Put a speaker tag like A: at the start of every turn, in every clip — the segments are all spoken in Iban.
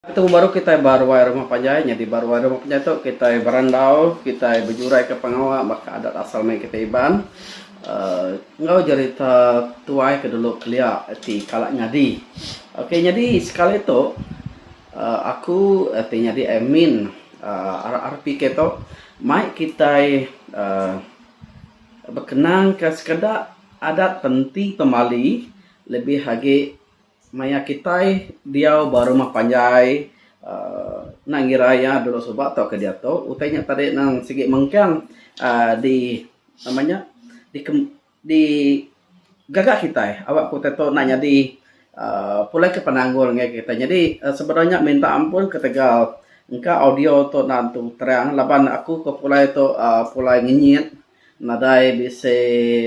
A: Betemu baru kitai ba ruai rumah panjai nyadi ba ruai rumah panjai tu kitai berandau kitai bejuraika pengawa baka adat asal maya kitai Iban enggau jerita tuai ke dulu kelia ti kala nyadi. Ok nyadi sekali tu aku ti nyadi admin RRPK tu mai kitai uhh bekenangka sekeda adat penti pemali lebih agi. Maya kitai diau ba rumah panjai uhh enda ngira iya dulu suba tau ke diatu utai nya tadi nang sigi mengkang uhh di nama nya di gaga kitai aba ku utai tu enda nyadi uhh pulai ke penanggul ngagai kitai. Nyadi sebenar nya minta ampun ketegal engka audio tu enda tentu terang laban aku ke pulai tu uhh pulai ngenyit. Nadai bisi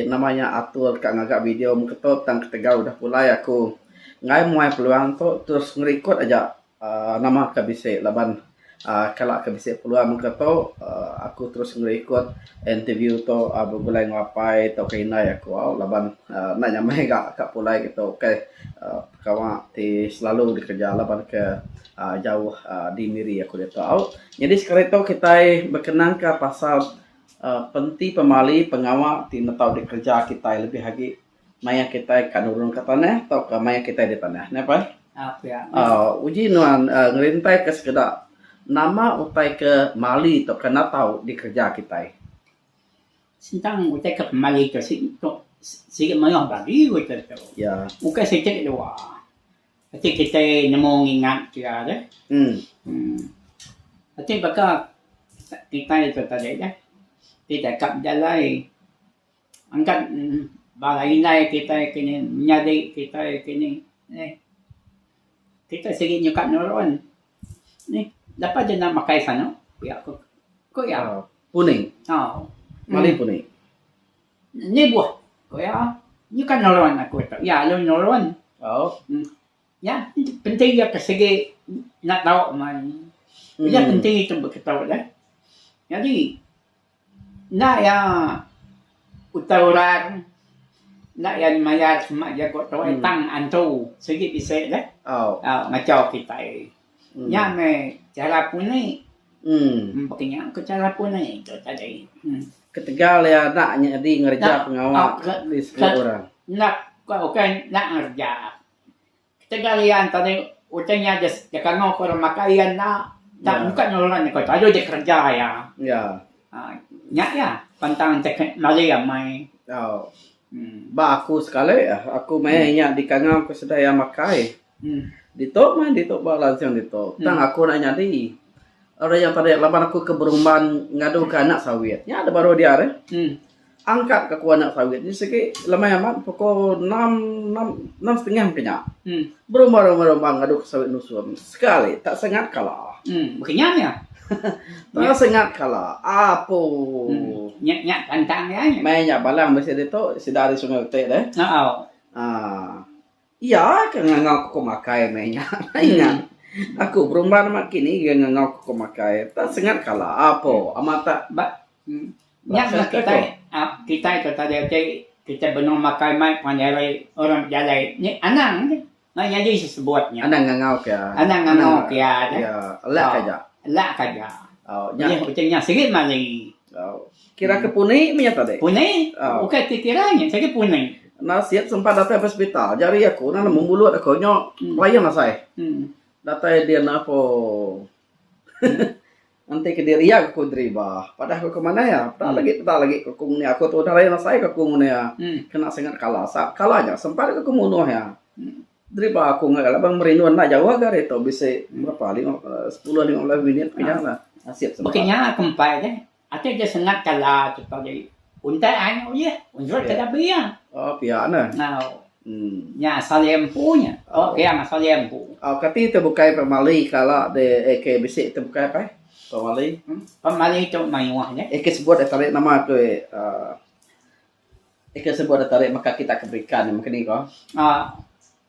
A: nama nya atur ka ngaga video mengketo tang ketegal udah pulai aku enggai muai peluang tu terus ngerikot aja aaa nama ka bisi laban aaa kala ka bisi peluang mengketo aaa aku terus ngerikot interview tu aaa begulai enggau apai tauka indai aku au laban aaa enda nya meh ga ka pulai gitu ukai aaa pengawa ti selalu dikereja laban ke aaa jauh aaa di miri aku ditu au. Nyadi sekali tu kitai bekenang ka pasal. Penti pemali pengawa ti netau dikereja kitai lebih agi mayuh kitai ka nurunka tanah tauka mayuh kitai di tanah neh pai.
B: Uji nuan
A: ngerintai ka sekeda nama utai ke mali tauka netau dikereja kitai.
B: Sentang utai ke pemali tu siti mayuh bagi utai tu. Ukai siti
A: dua.
B: Ati kitai nemu ngingat pia deh. Uhh ati baka kitai tu tadi deh. Ti deka bejalai angkat uhh bala indai kitai ke nya menyadi kitai ke ni eeh kitai sigi nyukat nurun eeh lepa deh enda makai sano pia ko ko iya. Puni.
A: Tau. Mali puni.
B: Lebuh ku iya, nyuka nulung aku tu. Iya lalu nulung. Nya penti iya ke sigi enda tau mai. Pia penti tu beketu deh. Nyadi enda iya utai orang, enda iya mayar sema jaku tuai tang antu sigi bisi deh. Ngachau kitai. Nya meh chara puni. Empa nya ke chara puni tu tadi. Ketegal
A: iya enda nyadi ngereja pengawa di sekula orang. Enda ka ukai
B: enda ngereja. Ketegal iya tadi utai nya je kango ke orang makai iya enda tak muka enggau orang nya ko lalu ja kereja iya. Um nya iya pantang te ke mali amai.
A: Ba aku sekali aku meh iya dikangau ke sida iya makai. Ditu meh ditu ba lancung ditu tang aku enda nyadi ari nya tadi laban aku ke berumban ngaduka anak sawit nya da baru dia rih angkat ka aku anak sawit nya sigi lemai amat pukul enam enam enam setengah mungkin nya berumban rumban rumban ngadu ka sawit nusun sekali tak sengat kala
B: tak
A: sengat kala apoo
B: meh nya balang bisi
A: ditu sida ari sungai beti rih aaa. Iya ke ngangau ku pemakai meh nya. Ingat, aku berumban amat kini iya ngangau ku pemakai. Tang sengat kala apo amat tak ba. Nya
B: meh kitai, kitai ke taja ti kitai benung makai mai panjai hari orang bejalai ni anang aja. Enda nyadi sesebut nya. Anang ngangau ke.
A: Anang ngangau ke iya aja.
B: Iya, elak ke aja. Elak ke aja. Au, nya. Utai nya sigi mali. Au. Kira
A: ke puni mih nyata dek. Puni? Oh. Bukan ti
B: kira nya, sagi puni. Nasib sempat datai
A: ke hospital. Jari aku na nemu mulut aku nya hmm. bayang nasai. Hmm. Datai dia na po. Nanti ke diri ya aku deriba. Padah aku ke mana ya? Tak hmm. lagi tak lagi aku ni aku tu dah lain nasai aku ni ya. Hmm. Kena sangat kalah. Sa kalah nya sempat aku munuh ya. Hmm. Deriba aku ngak kalau bang merindu nak jauh agak itu bisa berapa? 5 10 15 minit punya lah. Nasib sempat. Bukannya kempai deh.
B: Ati je sengat kala chekau diri. Untai ai nya ulih. Unjut ke labi iya. Oh pia ne. Ngau.
A: Hmm.
B: Nya asal iya empu nya. Oh, oh. pia asal iya empu. Oh kati te bukai
A: pemali kala de eh, ke bisi te bukai pai. Pemali. Hmm?
B: Pemali tu mayuh nya. Eh ke sebut eh tarik nama
A: ke uh, Ika sebut deka ari meka kita ke berikan meh kini ko. Aaa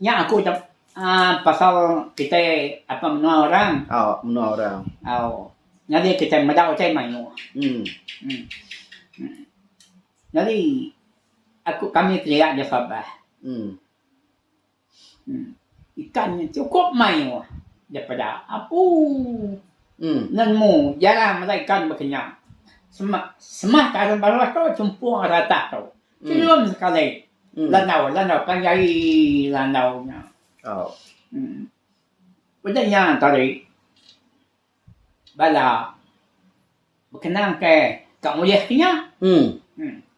A: nya
B: aku ucap aaa pasal kitai apa menua orang. Aaa menua orang. Aaa nyadi kitai meda utai mayuh. Emm. Emm. Nyadi aku kami kelia aja sabar. Emm. Ikan nya chukup mayuh daripada aku
A: nemu
B: jarang meda ikan baka nya. Semah semah taun baruh tu chumpung ratak tu chelum sekali landau landau panjai landau nya.
A: Udah
B: nya tadi bala bekenang ke ka ulih ke nya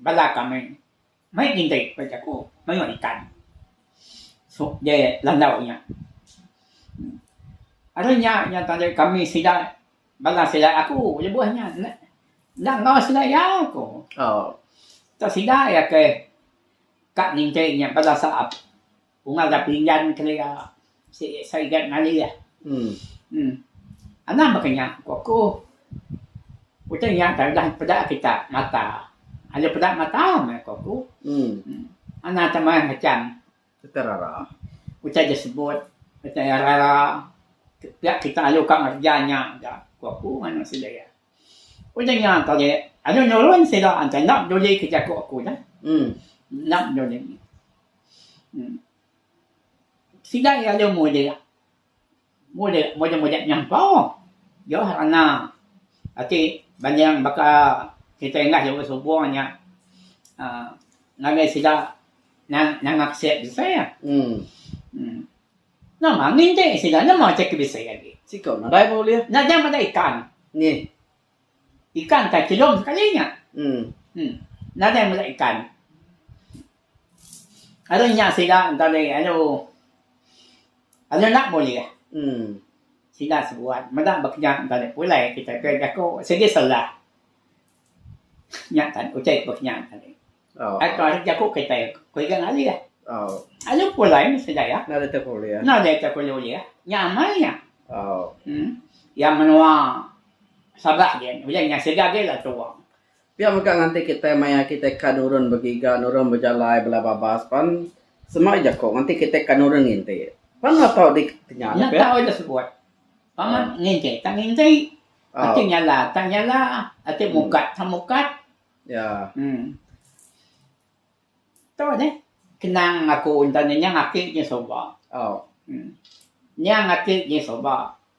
B: bala kami Mai ngintai ku ba jaku mayuh ikan. Suk deh landau nya. Ari nya nya tadi kami sida bala sida aku lebuh nya enda enda enggau sida iya ku.
A: Tau sida
B: iya ke ka ngintai nya bala saap. Ku ngaga pinggan kelia sik sarigat ngalih. Em. Anang baka nya, ku aku. Utai nya tang udah peda kita mata. Aja peda mata meh, ku aku. Em. Anang tang mayuh macam. Utai rara.
A: Utai ja
B: sebut, utai iya rara. Pia kita alu ka ngereja nya ga, ku aku ngaga sida iya. Udah nya tadi alu nulung sida enti enda peduli ke jaku aku dah. Enda peduli. Sida iya aja mudip mudip mudip mudip nyampa jauh ranga ati banding baka kitai nengah jauh subong nya um ngagai sida nang nangap sek besai ah. Nama angin ti sida nama ti ke bisi agi.
A: Nya nya meda ikan.
B: Ikan ka chilum sekali nya. Nadai meda ikan. Ari nya sida enda ulih alu alu enda bulih sida sebuat meda ba kinya enda ulih pulai kitai pia jaku sigi selah nya tan utai ba kinya tadi ai tau ari jaku kitai ku iga ngalih alu
A: pulai meh
B: sida iya enda ulih
A: tau ku ulih
B: nya amai nya
A: iya
B: menua sabak ulih nya sida agi lah tuo. Pia mega nganti
A: kitai maya kitai ka nurun begiga, nurun bejalai bala babas pan sema jaku nganti kitai ka nurun nginti. Pan enda tau di tenya nya pia. Nya tau ida sebut.
B: Paman nginti ta nginti. Ati nyala ta nyala, ati mukat ta mukat.
A: Em.
B: Tu deh kenang aku enda nenyang ati nya suba.
A: Em.
B: Nyang ati nya suba.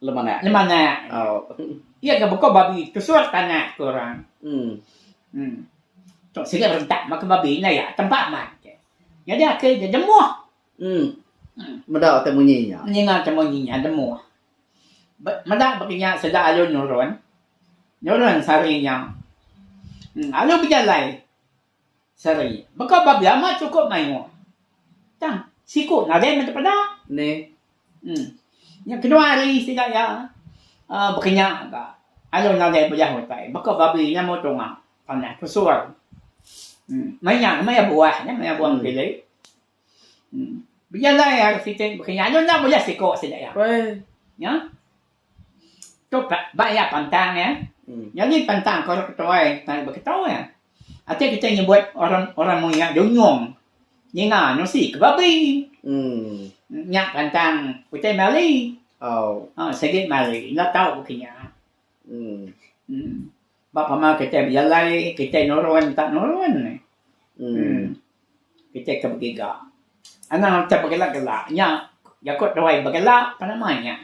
B: Lemanak.
A: Lemanak. Oh. Iya ga beko
B: babi kesur tanah ke orang. Hmm. Hmm. Tok sigi berentak maka babi nya ya tempa amat. Jadi akhir dia jemuh. Hmm. hmm.
A: Meda te munyi nya. Ninga te munyi nya
B: jemuh. Meda bagi nya sida alu nurun. Nurun sari nya. Hmm. Alu bejalai. Sari. Baka ba biama chukup mayuh. Tang siku nadai meda peda. Neh.
A: Em.
B: Nya kenyau hari sida iya uhh bekenya ka alu nadai bejah utai baka babi nya meh tunga tanah pesur. Em. Meh nya meh iya buah nya meh iya buah pilih. Bejalai ari siti baka nya anu enda meriah siko sida iya. Nya tu ba ba iya pantang iya. Nyadi pantang ke orang ketuai tang debei ketu iya. Ati kitai nyebut orang orang mung iya dunyong ninga nusi ke babi. Nya pantang utai mali. Au sigi mali enda tau baka nya. Ba pama kitai bejalai, kitai nurun entah nurun meh. Em kitai ke begiga. Anang utai begela-gela nya jaku tuai begela pan amai nya.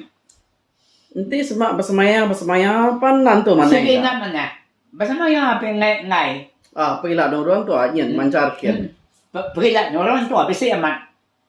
B: Enti
A: sema besemaya-besemaya pan nan tu manah ida. Sigi enda manah.
B: Besemaya pia enggai-enggai. A pegila nurun
A: tu nyin mancar kin. Pegila
B: nurun tu bisi amat.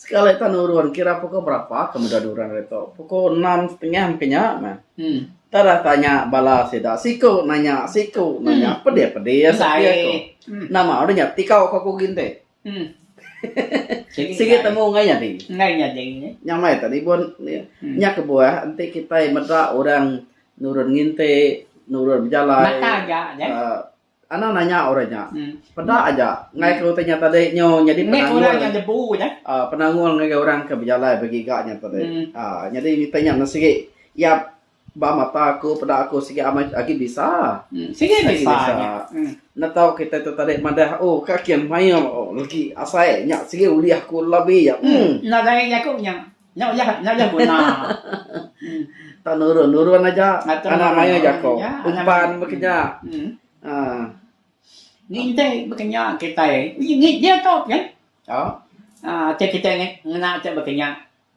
A: sekali tan urun kira pukul berapa ke meda dua orang ditu pukul enam setengah mungkin nya meh hmm. tak ada tanya bala sida siku nanya siku hmm. nanya pedih pedih ya sepi aku hmm. nama udah nya tikau ke aku ginte hmm. Sigi temu ngai nya ding. Ngai nya ding. Eh. Nya mai tadi bon hmm. nya kebuah enti kita meda orang nurun nginte nurun bejalai. Mata aja.
B: Uh, Anang
A: nanya orang nya. Peda aja ngaika utai nya tadi nyu nyadi penanggul. Ngaika orang nya lebu aja. Uh, penanggul ngagai orang ke bejalai begiga nya tadi. Hmm. Uh, nyadi utai nya mesti sigi iya ba mata aku peda aku sigi amat agi bisa. Hmm. Sigi agi bisa. bisa.
B: Nya. Hmm. Netau kita
A: tu tadi madah oh ka kin mail oh lagi asai nya sigi ulih aku labi ya. Hmm. hmm. Nadai aku
B: nya. Nya uyah nya uyah guna. Tang
A: nurun nurun aja. Anak mayuh jako. Umpan baka nya. Uhh.
B: Ngintai baka nya kitai. Ngi dia tu kan. Uhh. Uhh ati kitai ngena ati baka nya.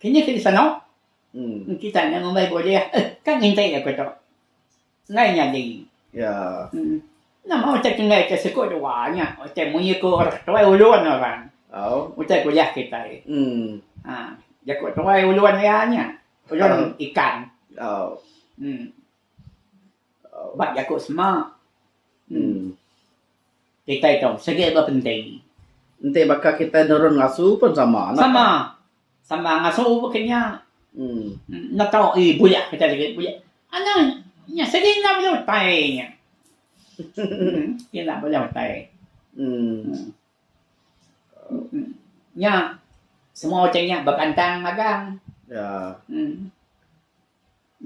B: Kinih ke disano. Kitai nya ngumbai bulih. Uhh ka ngintai aku tu. Enggai nyadi iya.
A: Nama
B: utai ke enggai ke siku dua nya utai mengikur tuai ulun orang. Utai kuliah kitai. Haa jaku tuai ulun iya nya ulun ikan. Em ba jaku sema kitai tu segi bepenting. Enti baka
A: kitai nurun ngasu pun sama. Sama. Sama
B: ngasu ba kenyang. Enda tau ii buyak ke tadi buyak. Anang nya segi enda bela utai nya. Segi enda bela utai. Nya semua utai nya bekantang magang.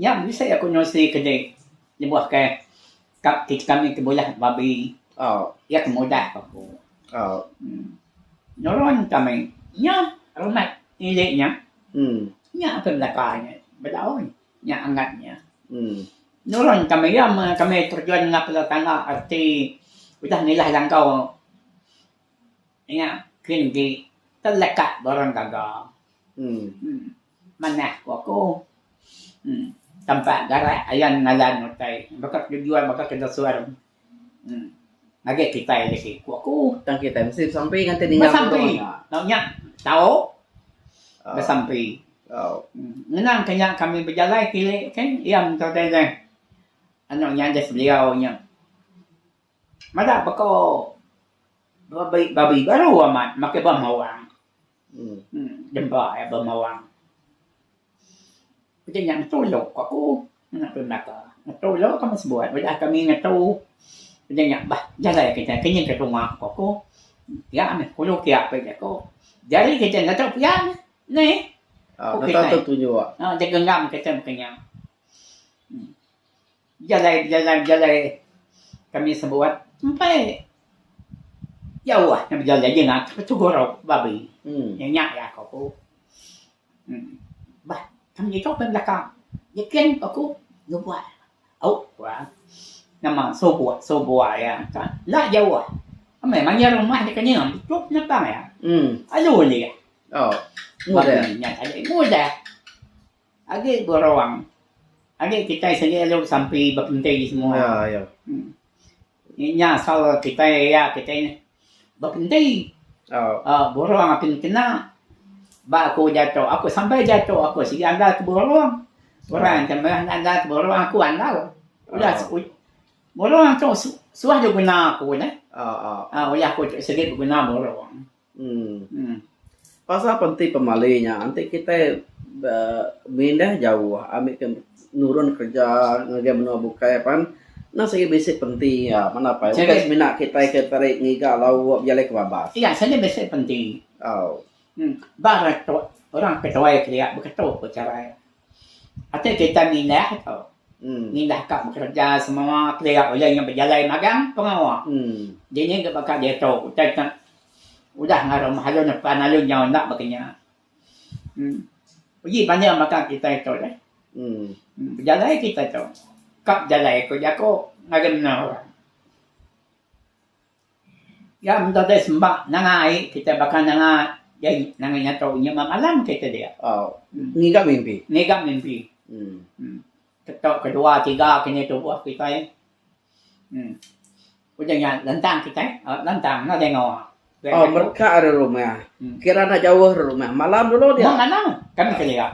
B: Nya bisi aku ngerusi ke di lebuh ke ka kit kami ke bulih babi iya ke mudah ba aku nurun kami nya rumah ili nya nya ke belaka nya beda un nya angat nya nurun kami iya meh kami terjun ngap bala tangga reti udah ngilah langkau Nya ke enti telekat ba orang gaga. Manah ku aku. Tempat garak ayan ngalan utai baka ke jual baka ke desur. Ngagai kitai lagi ku aku. Tang kitai mesti besampi
A: nganti ninga moto nya.
B: Besampi. Nya tau besampi. Ngenang ke nya kami bejalai ke iya mento deh. Anu nya deh beliau nya. Madah baka babi babi baru amat makai bah mawang. Demba iya bah mawang. Pia nya ngetu ilo ka aku anak aku belaka. Ngetu ilo ka meh sebuat udah kami ngetu pia nya bah jalai kitai ke nyin ka tunga ka aku. Pia meh kulu kia pia ka aku. Jari kitai enda tau pia meh neh. Ku kitai. Enda tau
A: tu jua. Nya genggam kitai
B: meh ka nya. Jalai bejalai bejalai kami sebuat empai jauh nya bejalai jina ke tugu rau babi iya nya lah ko ku bah kami iko meh belaka nyiken ko ku nubuai au kuan nama subu subuai iya ka enda jauh meh manyer rumah deka nyem tuk nyepai alu ulih babi nya tadi mudah. Agi beruang. Agi kitai sigi alu besampi bepenti semua. Inya asal kitai iya kitai neh bepenti. Aaa beruang ati kena. Ba aku jaku aku sampai jaku aku sigi andal ke beruang. Orang ke meh andal ke beruang aku andal. Udah beruang tu suah diguna aku neh. Aaa udah aku sigi beguna beruang.
A: Pasal apa enti pemali nya enti kitai mindah jauh ami ke nurun kerja ngagai menua bukai pan enda sigi bisi penti iya mana apai ukai semina kitai ke tei ngiga lau bejalai ke babas. Iya seni bisi penti.
B: Au. Ba reto orang ke tuai kelia beketo ko cara iya. Ati kitai mindah tu. Mindah ka bekereja semua pia ulih inya bejalai magang pengawa. Dini dep baka diatu utai tu udah ngagai rumah alu nepan alu nyau enda baka nya. Em uji banding baka kitai tu deh. Bejalai kitai tu ka bejalai ku jaku ngagai menua orang. Iya meda deh semba nangai kitai baka nanga nangai nyatu inya meh malam kitai dia. Ngiga
A: mimpi. Ngiga mimpi. Em
B: tetu kedua tiga kinih tubuh kitai. Em udah nya lantang kitai lantang enda dengu. Au
A: mega ari rumah. Kira enda jauh
B: ari rumah.
A: Malam dulu dia. Malam kami kelia.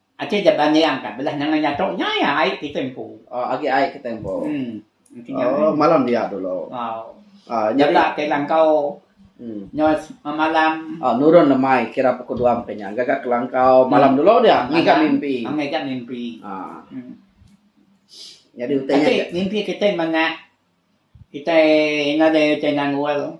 B: Ati ja bangiang ka belah nengah nya tu. Nya iya ai ti tempo. Oh agi ai ke tempo.
A: Oh malam dia
B: dulu.
A: Oh
B: nya bela ke
A: langkau
B: nya semalam. Oh nurun lemai
A: kira pukul dua mpi nya gaga ke langkau malam dulu dia ngiga mimpi. Oh ngiga mimpi. Nyadi utai nya. Ati mimpi kitai
B: manah kitai ngagai utai nangul.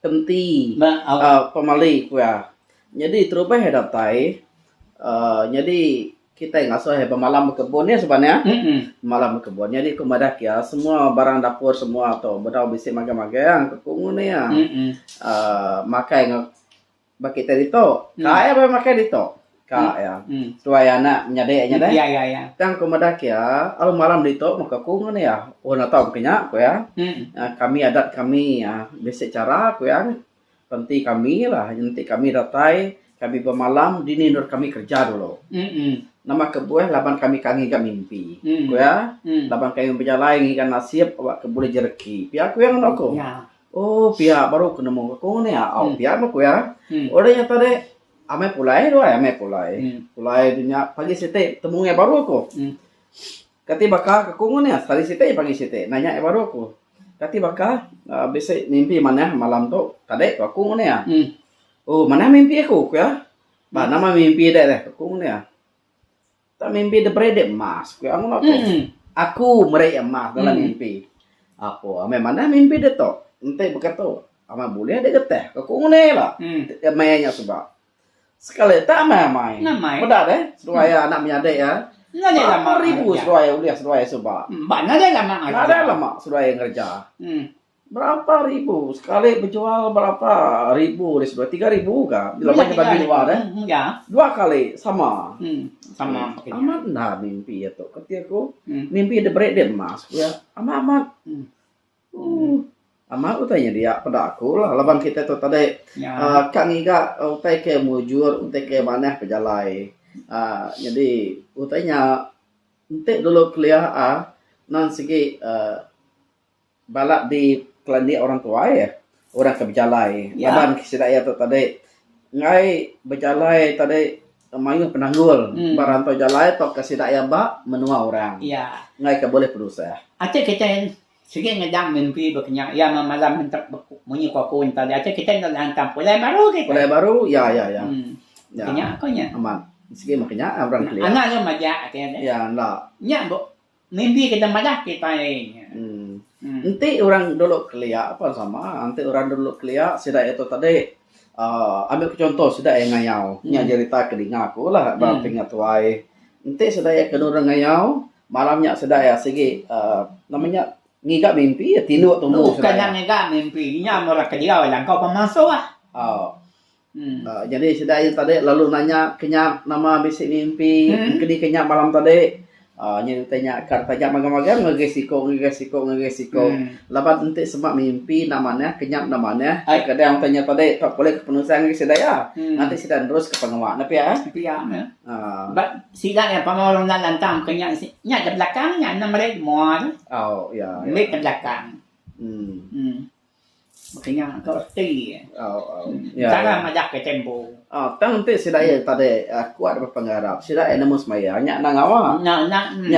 A: kenti pemali ku iya. Nyadi terubah iya datai nyadi kitai ngasuh iya bemalam bekebun nya suba nya. Bemalam bekebun nyadi ku madah ku iya semua barang dapur semua tu bedau bisi magang-magang ku nguni iya. Makai enggau. ba kita ditu ka iya bala makai ditu ka iya tuai anak menyadi nya deh tang ku
B: meda ke iya
A: alu malam ditu meh aku ngan iya oh enda tau ke nya ku iya kami adat kami bisi chara ku iya pen ti kami lah enti kami datai kami bemalam dini nur kami kerja dulu nama kebuah laban kami ka ngiga mimpi ku iya laban kami bejalai ngiga nasib buleh jereki pia ku iya ngadan aku. Oh pia baru ke nemu aku ni au pia meh ku iya. Udah nya tadi amai pulai deh wai amai pulai. Pulai deh nya pagi siti betemu ngai baru aku. Kati baka ke aku ni hari siti pagi siti nanya iya baru aku. Kati baka uhh bisi mimpi manah malam tu tadi ku aku ngan iya. Oh manah mimpi aku ku iya. Ba nama mimpi dek deh ku aku ngan iya. Tang mimpi da bridek emas ku iya ngono tu. Aku meri iya emas dalam mimpi. Apo amai manah mimpi dia tu. Enti baka tu amai bulih dek getah ka ku nguni la maya nya suba. Sekali tak amai amai. Meda deh seduai iya anak menyadi iya. Berapo ribu seduai ulih seduai iya suba. Nadai
B: lama seduai iya ngereja.
A: Berapa ribu sekali bejual berapa ribu ari situ tiga ribu ka laban iya bagi luar eh dua kali sama amat
B: enda
A: mimpi iya tu ku ti aku mimpi dep beri dep emas ku iya amat amat ooh amat utai nyadi iya peda aku la laban kitai tu tadi uhh ka ngiga utai ke mujur utai ke manah pejalai uhh nyadi utai nya enti dulu kelia uhh nan sigi uhh Bala dikelandik orang tuai eh orang ke bejalai laban sida iya tu tadi enggai bejalai tadi mayuh penanggul ba rantau jalai tauka sida iya ba menua orang enggai ka bulih penusah. Acha kitai
B: sigi ngedang mimpi ba kinya iya meh malam entek munyi ku aku tadi acha kitai enda lantang pulai baru agi ku. Pulai baru iya iya iya.
A: Meh kinya
B: ku nya. Amat sigi meh kinya
A: orang kelia. Anak lu majak ati nya.
B: Iya enda. Nya Mimpi ke deka madah kitai nya. Enti
A: orang dulu kelia pun sama. Enti orang dulu kelia sida iya tu tadi uhh ambil ke chunto sida iya ngayau. Nya jerita ke dinga aku lah ba pinga tuai. Enti sida iya ke nurung ngayau malam nya sida iya sigi uhh nama nya ngiga mimpi tinduk tumbu sida iya. Bukan nya ngiga mimpi.
B: Nya murah kedia jangka pemansuh. Au.
A: Jadi sida nya tadi lalu nanya ke nya nama bisi mimpi keni ke nya malam tadi aaa nya enti nya ka taja magang-magang ngagai siko ngagai siko ngagai siko laban enti sema mimpi enda manah ke nya enda manah kadang enti nya tadi tau pulih ke penusah ngagai sida iya ngatik sida neruska pengawa ne pia eh pia ne aaa sida
B: nya pengawa orang enda lantang ke nya nya ke belakang nya enda meri ke mua tu au iya
A: meri ke belakang.
B: Bepinga ka reti. Cara majak ke tempo. Tang enti sida
A: iya tadi kuat baka ngarap sida iya nemu semaya nya enda ngawa. Nya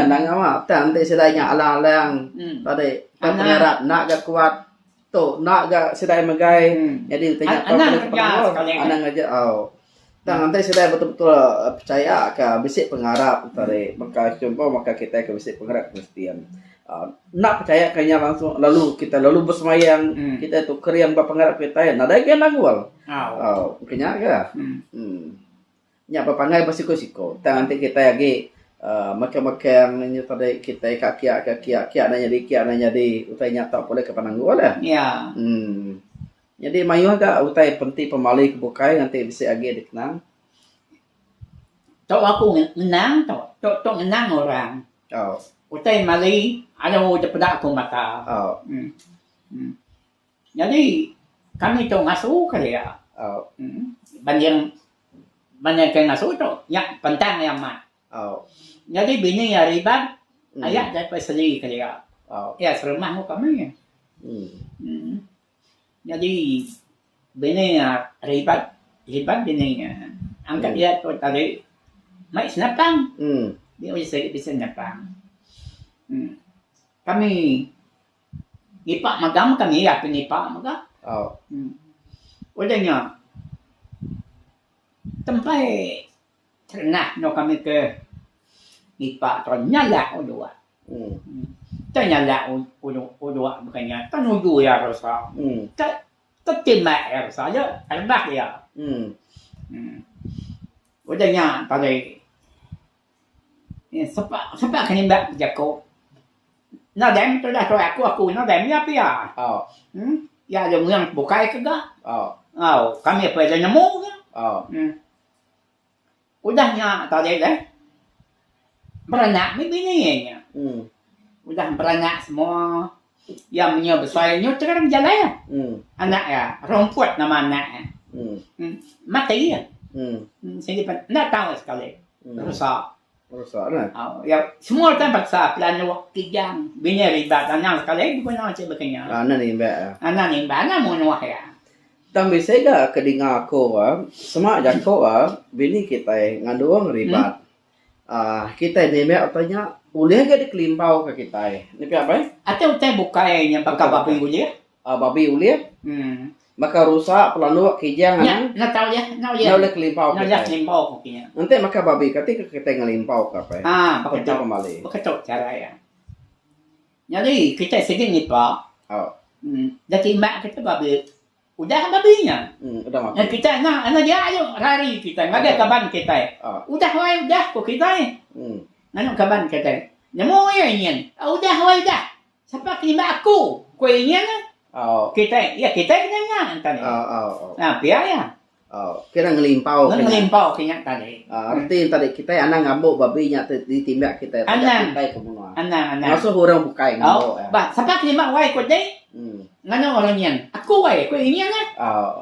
A: enda ngawa tang enti sida nya alang-alang tadi tang pengarap enda ga kuat tu enda ga sida megai. Jadi enti nya anang kerja sekali anang. Tang enti sida betul-betul pechaya ka bisi pengarap tadi baka chunto baka kitai ke bisi pengarap Kristian aaa enda pechaya ka iya langsung lalu kitai lalu besemayang kitai tu kering ba pengarap kitai nadai ga nangul au ke nya ga uhh nya pa pangai ba siko-siko. Tang enti kitai agi aaa mekang-mekang inya tadi kitai ka kiya ka kiya kiya enda nyadi kiya enda nyadi utai nya tau pulih ke penanggul deh uhh. Nyadi mayuh ga utai penti pemali ke bukai ngan ti bisi agi dikenang.
B: Tau aku ngenang tau tok tok ngenang orang. Au.
A: Utai mali
B: alu da peda aku mata. Au. Em. Nyadi kami tok ngasu ka dia. Au. Em.
A: Banding
B: banding ke ngasu tok nya pantang iya amat. Au.
A: Nyadi bini
B: iya riban aya da seli ka dia. Au. Iya serumah
A: enggau kami.
B: Em. Nyadi bini iya ribat ribat bini iya angkat iya tu tali mai senapang dia udah sigi bisi senapang um kami nipa mega mega iya ti nipa mega um
A: udah
B: nya tempai Terenah endur kami ke nipa tu nyalak uduk. Tau nyalak uduk uduk bukan nya tau nuju iya ke resa. Tau tau timak iya ke resa aja rebak iya. Udah nya tadi ye sepa sepa ke nimba ke jaku. Enda dai men tudah tuai aku aku enda dai menya pia.
A: Iya aja
B: muyang bukai ke ga. Au
A: kami pun ida
B: nemu ga.
A: Udah
B: nya tadi deh beranak meh bini ye nya. Udah beranak semua iya menyau besai nyau terang jalai iya. Anak iya Rumput nama anak iya. Mati iya. Enda tau sekali rusa.
A: Iya semua utai
B: paksa pelanduk kijang bini ribat anang sekali beguna enti bekenyau. Anak nimba iya.
A: Anak nimba anak
B: munuh iya. Tang bisi
A: ga ke dinga aku sema jaku bini kitai ngandung ribat uhh kitai nimba utai nya ulih ga dikelimpau ka kitai. Nya pia bai. Atai utai bukai
B: nya baka ba pengulih. A babi ulih.
A: Hmm. Baka rusa pelanduk kijang anang. Nya, nya tau ya.
B: Nya ulih. Nya ulih kelimpau kita. Nya ulih kelimpau kopi
A: nya. Enti
B: maka babi kati
A: ke kita ngelimpau ka pe. Ha, baka tu pemali.
B: Baka tu
A: cara ya.
B: Nyadi kita sigi ngipa. Oh. Hmm. Da timbak kita babi. Udah babi nya. Hmm, udah mati. Nya kita
A: nya ana dia
B: ayo rari kita ngagai okay. kaban kita. Oh. Udah wai udah ko kita. Hmm. Nganu kaban kita. Nemu ya nyen. Udah wai udah. Sapa ke nimbak aku? ku iya nyin. Kitai, iya kitai ke nya tadi. Nah, pia iya. Kena
A: ngelimpau. Kena ngelimpau ke
B: nya tadi. Reti tadi kitai
A: anang ngabuk babi nya tu ditimbak kitai taja kitai ke menua.
B: Anang,
A: anang. Ngasuh orang
B: bukai
A: ngabuk iya. Bah, sapa ke nimbak wai
B: ku dei? Nganu orang nyin. Aku wai, ku iya nyin.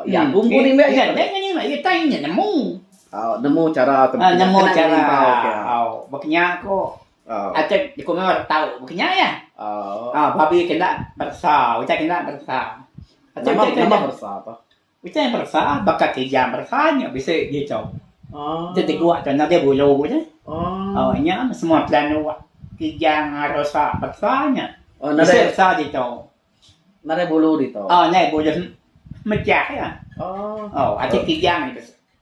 B: Iya aku empu
A: nimbak iya. Iya ke nimbak iya tai
B: nyin nemu. Nemu chara
A: tempiak. Nemu chara.
B: Baka nya ko. Aja dikungor tau buka nya iya. Ah babi kena beresa, utai kena beresa. Aja utai kena. Nama
A: beresa apa? Utai beresa
B: baka kijang beresa nya bisi ditu. Oh. Itu tegua tu nadai bulu tu. Oh. Oh nya semua plan tu kijang beresa beresa nya. Oh nadai bisi beresa ditu. Nadai bulu
A: ditu. Oh nadai bulu
B: mecah ya. Oh. Oh aja kijang ni bisi.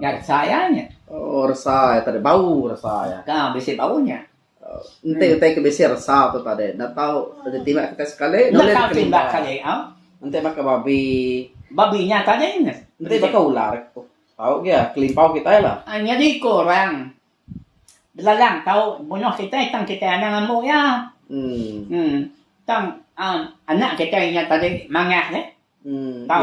B: Nya resa iya nya. Oh resa iya
A: tadi bau resa iya. Ka bisi bau nya.
B: Enti utai
A: ke bisi resa tu tadi enda tau ditimbak kitai sekali enda ulih dikelimba. Enda tau ditimbak sekali
B: au. Enti baka
A: babi. Babi nya
B: tadi nya. Enti baka ular
A: tau aja kelimpau kitai lah. Ah nyadi ko orang
B: belalang tau bunuh kitai tang kitai anang ambo iya. Uhh tang anak kitai nya tadi mangah nya. Tau.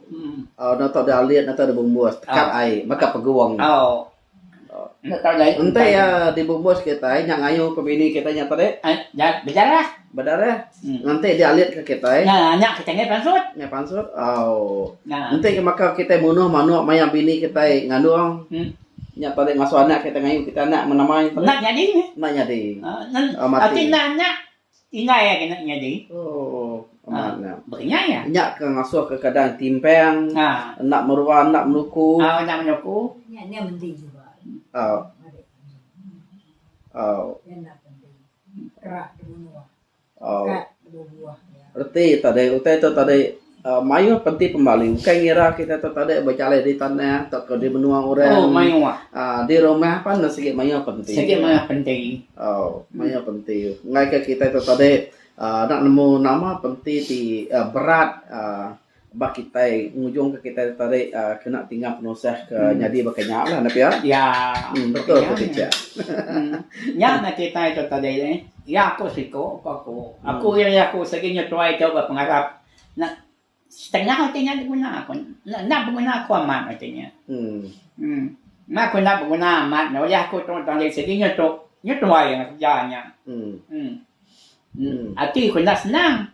B: Oh, no tok
A: deh alit, no tok deh bumbus. Tekap oh. ai, maka oh. pegung. Oh. Oh.
B: Nya tau jai. Ente ya dibumbus
A: kita ai nya ngayu ke bini kita nya tadi. Eh, ja, bejarah.
B: Bedarah. Hmm.
A: Nanti dia alit ke kita ai. Nya, nya kita ngai pansut.
B: Ngai pansut.
A: Oh. Nya. Ente ke maka kita munuh manuk maya bini kita ai ngandung. Hmm. Nya tadi ngasuh anak kita ngayu kita anak menamai. Nak nyadi. Nak nyadi. Uh, oh, mati. Ati
B: nak nak. Indai agi enda nyadi.
A: Amat nya. Nya
B: ke ngasuh ke
A: keadaan timpang enda merua enda menuku. Nya nya
B: menti
A: juga.
C: Reti tadi
A: utai tu tadi. uhh mayuh penti pembalu ukai ngira kita tu tadi bejalai di tanah tauka di menua orang uhh
B: di rumah
A: pun ne sigi mayuh penti uhh
B: mayuh
A: penti ngai ka kita tu tadi uhh enda nemu nama penti ti uhh berat uhh ba kitai ngujung ka kitai tadi uhh kena tinggal penusah ke nyadi baka nya la ne pia uhh
B: betul ti
A: picak
B: uhh. Iya aku siku, ku aku. Aku iri iya aku sigi nyetuai tu ba pengarap enda setengah ati nya diguna aku. Enda enda beguna aku amat ati nya. Em. Meh aku enda beguna amat nya ulih aku tu tang sigi nyetu nyetuai enggau kerja nya. Em. Ati ku enda senang.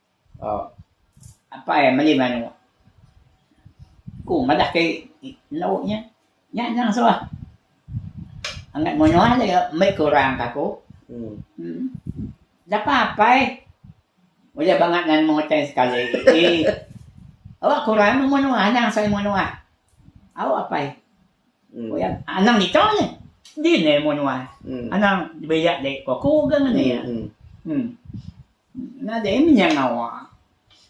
B: Apai meli manuk. Ku madah ke enda wak nya. Nya anang suah. Angat munyuh aja ke mei ke orang ka aku. Em Dapa apai udah bangat nan mung utai sekali ii. Awak ke orang munyuh anang sai munyuh. Au apai. Anang nika nya. Di ne mu nuan. Anang belia dei ko aku ga ngan iya. Em. Nadai mih nya ngawa.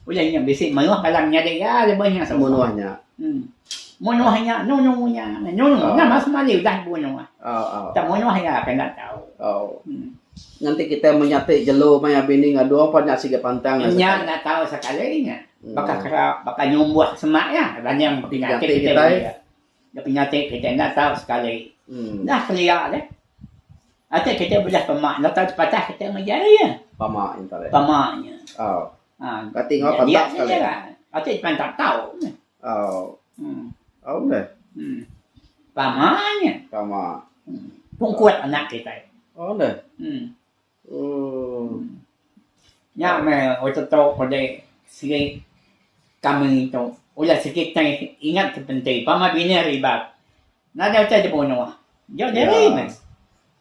B: Udah nya bisi meruh palan nyadi ga lebuh nya suba. Em. Mu nuah nya
A: nunu
B: nya. Nunu nya mas mali udah mu nuah. Tang mu nuah iya ke enda tau. Em.
A: Ngan ti kitai menya ti jelu maya bini ngadu pa nya sigi pantang. Nya enda tau
B: sekali nya. Baka kera baka nyumbuh semak iya. Ranyang pekina ti kitai. Nya penyakit kitai enda tau sekali dah kelia deh. Atik kitai bejah pema enda tau sepatah kitai mega ari iya. Pama nya tau deh. Pama
A: nya. Oh.
B: Ha.
A: Kati ngau pantap sekali. Atik pantap
B: tau. Oh. Hmm.
A: Oh deh. Hmm. Pama
B: nya. Pama.
A: Pungkut
B: anak kitai. Oh deh.
A: Hmm.
B: Nya meh orang tetu udah sigi kami tu udah sigi tai ingat ke penti pama bini ari iban. Nadai utai dibunuh. Jok diri meh.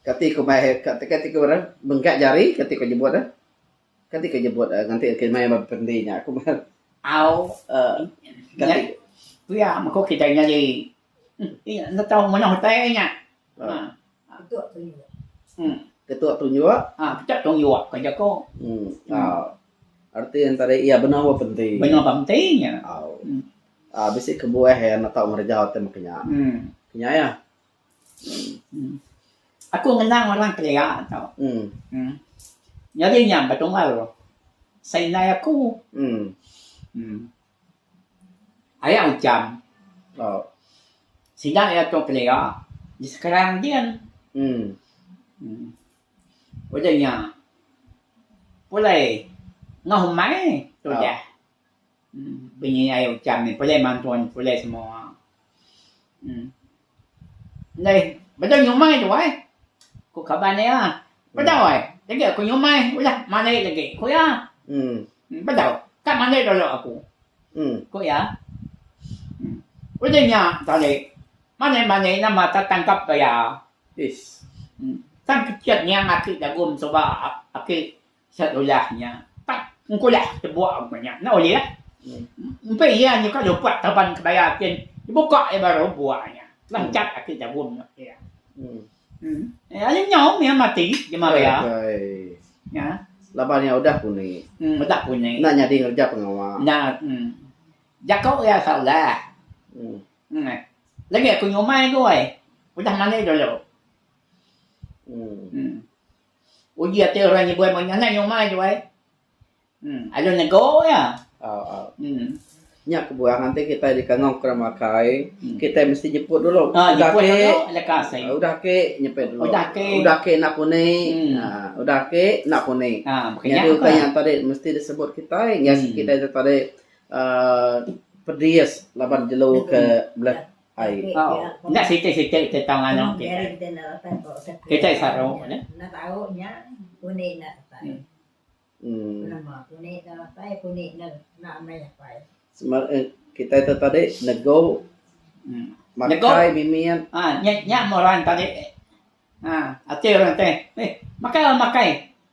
B: Kati ku
A: mai kati ku ngaran bengkak jari kati ku nyebut eh. Kati ku nyebut eh ngatik agi meh ba penti nya. Au. Kati.
B: Pia meh ku kitai nyadi. Enda tau menoh utai nya.
C: Ketua
A: tunjuk
B: ka jaku.
A: Arti entara iya benung ba penti. Benung ba penti
B: nya.
A: Bisi kebuah iya enda tau ngereja utai mung kinya. Kinya iya.
B: Aku ngenang orang kelia tu. Nyadi nya betunggal. Seinai aku. Aya ujan sida iya tu kelia di sekarang din udah nya pulai enggau umai tu udah bunyi aya ujan pulai mantun pulai semua. Neh, bedau nyumai tu ai, ku kaban iya. Bedau ai, digi aku nyumai udah mandi lagi, ku iya. Bedau, ka mandi dulu aku, ku iya. Udah nya tadi, mandi-mandi nama ka tangkap ke iya.
A: Tang
B: kechet niang aki dagum suba aki. Sat ulah nya tap engkulah tebuak ku nya enda ulih lah. Empai iya nyuka lupat taban kebaya kin dibuka iya baru buak nya. Lancat ati jabum nya iya. Nya aja nyau mih mati jemah iya. Nya. Laban iya udah
A: puni. Udah puni. Enda
B: nyadi ngereja pengawa.
A: Nya.
B: Jaku iya salah. Lagi aku nyumai goi. Udah mali dulu. Uji ati orang nyebuai maya nyangai nyomai tu ai. Em alu nego iya. Au au. Em. Nya
A: kebuah enti kitai dikangau ke orang makai, hmm. kitai mesti nyeput dulu. Ha, udah nyeput ke, dulu
B: lekas ai. Ah, udah ke nyeput
A: dulu. Udah ke. Udah ke nak
B: puni. Hmm. Ha,
A: udah ke nak puni. Ha, Jadi utai yang
B: tadi mesti
A: disebut kitai, hmm. kitai tadi uh, pedis laban jelu ke hmm. belah Nya siti-siti
B: tentang anak kitai. Kitai saru
C: nih. Sema eh kitai
A: tu tadi nego makai mimit. Ah nya nya meh orang
B: tadi. Ah ati orang teh. Meh makai makai.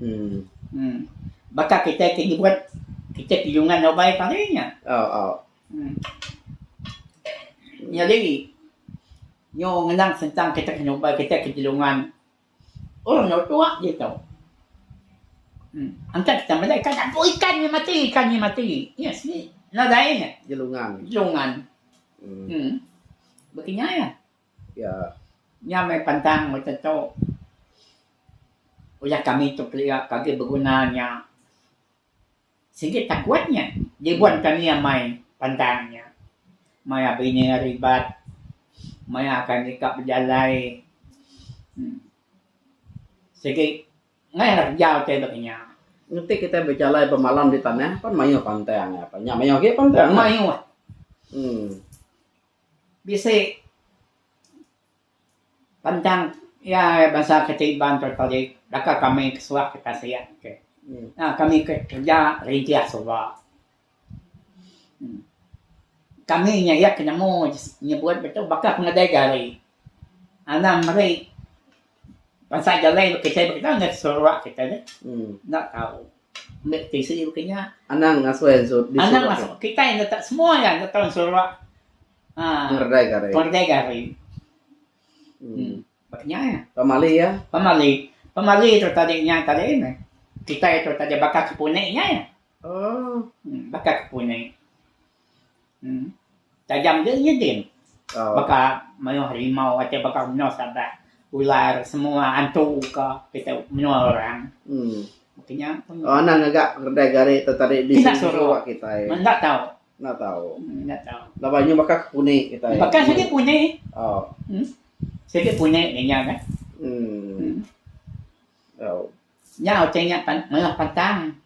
B: Em. Baka kitai ti nyebut kitai ti nyungan dau bai tadi nya. Oh, oh. Em. Nyadi nyu ngenang sentang kitai ke nyubai kitai ke nyungan orang enggau tua ditu. Em. Engka kitai meda ikan abu ikan nya mati, ikan nya mati. Nya sik nadai nya. Nyelungan. Nyelungan. Em. Baka nya iya. Iya
A: nya meh
B: pantang meh tentu. Ulah kami tu kelia pagi beguna nya sigi takut nya dibuat kami amai pantang nya. Maya bini hari ibat, maya akan deka bejalai uhh sigi meh lah kerja utai ba kinya. Enti kitai
A: bejalai bemalam di tanah pan mayuh pantang nya mayuh agi pantang. Mayuh. Uhh.
B: Bisi bentang iya bansa kitai Iban tu tadi deka kami kesuah kita sia okey nya kami ke kereja rintis suba. Kami nya iya ke nemu nyebut ditu baka pengadai gari. Anang meri bansa jalai kitai baka kita ngagai sarawak kitai nya enda tau. Ambil tisi baka nya. Anang ngasuh iya disorak
A: tu. Anang ngasuh. Kitai enda
B: tak semua iya enda tau disorak. Aaa. Pengeredai ke hari. Pengeredai ke hari. Hmm. Baka nya iya. Pemali iya. Pemali. Pemali tu tadi nya tadi meh. Kitai tu tadi baka ke puni nya iya. Oh. Baka ke puni. Tajam nya iya din baka mayuh harimau achaik baka menua sabak ular semua antu ka kitai menua orang baka
A: nya pun kina soro enda tau enda tau
B: baka sigi puni
A: sigi puni
B: nya nya nya nya utai nya mayuh pantang.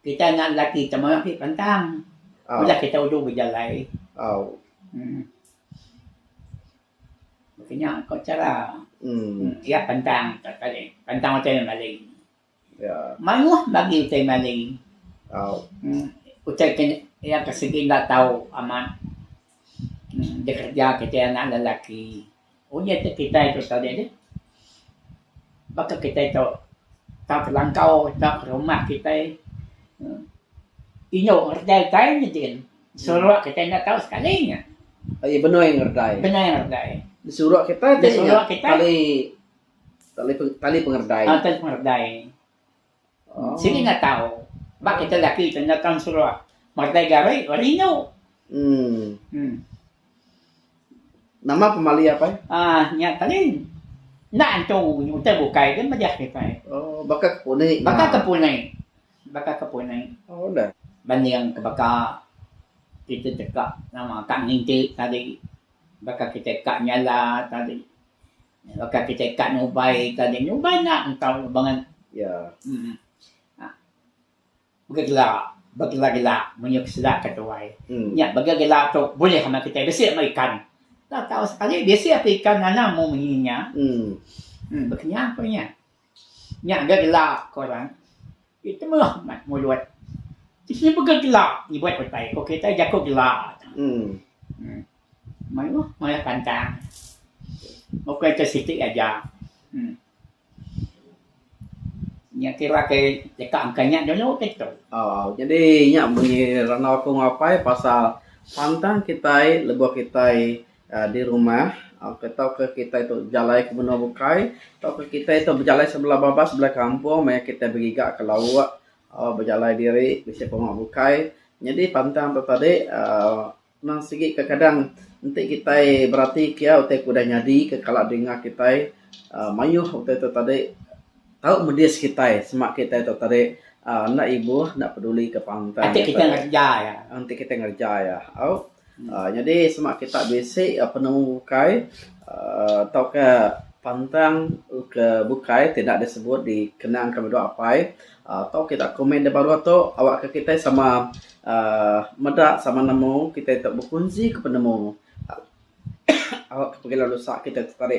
B: Kitai anak lelaki ti mayuh agi pantang. Udah kitai ulu bejalai. Em Baka nya ko chara iya pantang pantang utai nya mali.
A: Mayuh ba agi
B: utai mali. Em Utai ke iya ke sigi enda tau amat em bekerja kitai anak lelaki. Uji ti kitai tu sekali agi baka kitai tau tau telangkau tau rumah kitai uhh indu ngereja kitai ngeji seruak kitai enda tau sekali nya. Aji benoi
A: ngereja. Benoi ngereja. Seruak kitai ti seruak kitai tali tali pengereja. Tali pengereja.
B: Sigi enda tau. Ba kita laki tu enda tau seruak. Matai gari rindu. Em.
A: Nama pemali apai? Ah, nya tadi.
B: Enda antu utai bukai ke mejah ke pai. Oh, baka ke puni.
A: Baka ke puni.
B: Baka ke puni. Oh, dah.
A: Banding ke baka
B: kita teka nama ka nginti tadi. Baka kita ka nyala tadi. Baka kitai ka nubai ka nya nubai enda engkau bangan iya. Uhh. Begela begela gela munyi peseda ke tuai. Nya begela gela tu bulih amat kitai bisi amat ikan. Enda tau sekali bisi ape ikan anang mu munyi nya. Uhh. Bekenyang ku nya. Nya ga gela ko orang ti temuh mat mulut. Ti sida pega gela nyebut utai ko kitai jaku gela tu. Mayuh malah pantang ukai ke siti aja. Nya kira ke deka angka nya dulu ke tu. Jadi
A: nya munyi randau aku enggau apai pasal pantang kitai lebuh kitai di rumah ok tauka kitai tu bejalai ke menua bukai tauka kitai tu bejalai sebelah babas sebelah kampung maya kitai begiga ke lauk aau bejalai diri bisi pengawa bukai nyadi pantang tu tadi aaa nang sigi kekadang enti kitai beratika utai ke udah nyadi ke kala dinga kitai aaa mayuh utai tu tadi. tau medis kitai sema kitai tok tadi aaa enda ibuh enda peduli ke pantai enti kitai ngereja iya
B: enti kitai ngereja
A: iya au aaa nyadi sema kita bisi penemu ukai aaa tauka pantang ke bukai ti enda disebut dikenang ke menua apai aaa tau kita komen da baruh tu awak ke kitai sama aaa meda sama nemu kitai tok bekunsi ke penemu au ke pengelan usa kitai tok tadi.